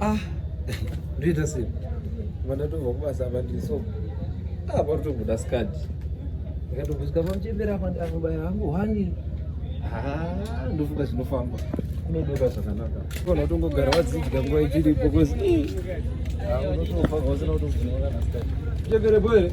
ah ndoita sei vandatobva kubasa apa ndiri so ah patotobuda skadi ndikatobvusika pamuchembera apa ndakubaya hangu hwani ah, ndofunga zvinofamba unodoka zvakanaka kona utongogara wadzidya nguva ichiripo kozi unotofa vausina kutoziva kana skadi chembere boere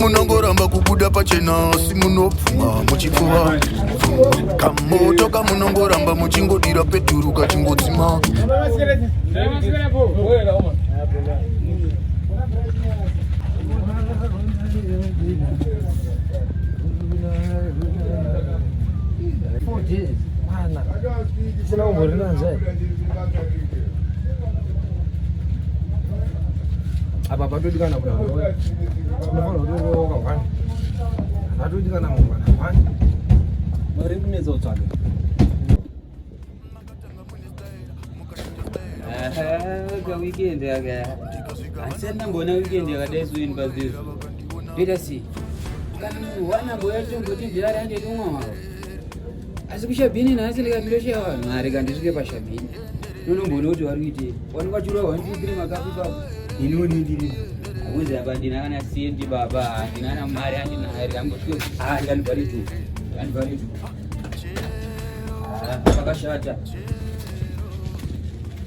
munongoramba kubuda pachena asi munopfuma muchipfuva kamoto kamunongoramba muchingodira peturu kachingodzima Four days. Mana. Sina umurina nzai. apa patodikana kuti haunofanira kutoroka wani patodikana mangwana wani mari kunetsa kutsvaga kaweekend aka asi andamboona weekend yakadai soini pazizo toita sei kana wanamboya tongoti ndilari anditomwa mavo asi kushabhini nhasi ndikatosha vanhu mari kandisvike pashabhini nonomboona kuti vari kuitei wanenge vachiurwa one two three makapi ipapo ini unindiri akuzi apa ndina kana sendi baba handina kana mari andina hari kangosvike ah ndikandivharitu ndikandivharitu pakashata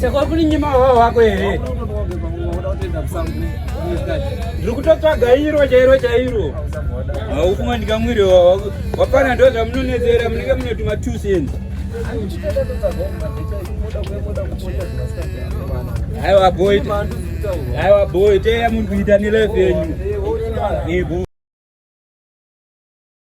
sekuri nyima hwa wako here ndiri kutotsvaga iro chairo chairo haufunga ndikamwiri wapana ndo zvamunonetsera munenge munotuma two cents aiwa boy Aiwa boy, teya munhu kuita nelevenyu. Ibu.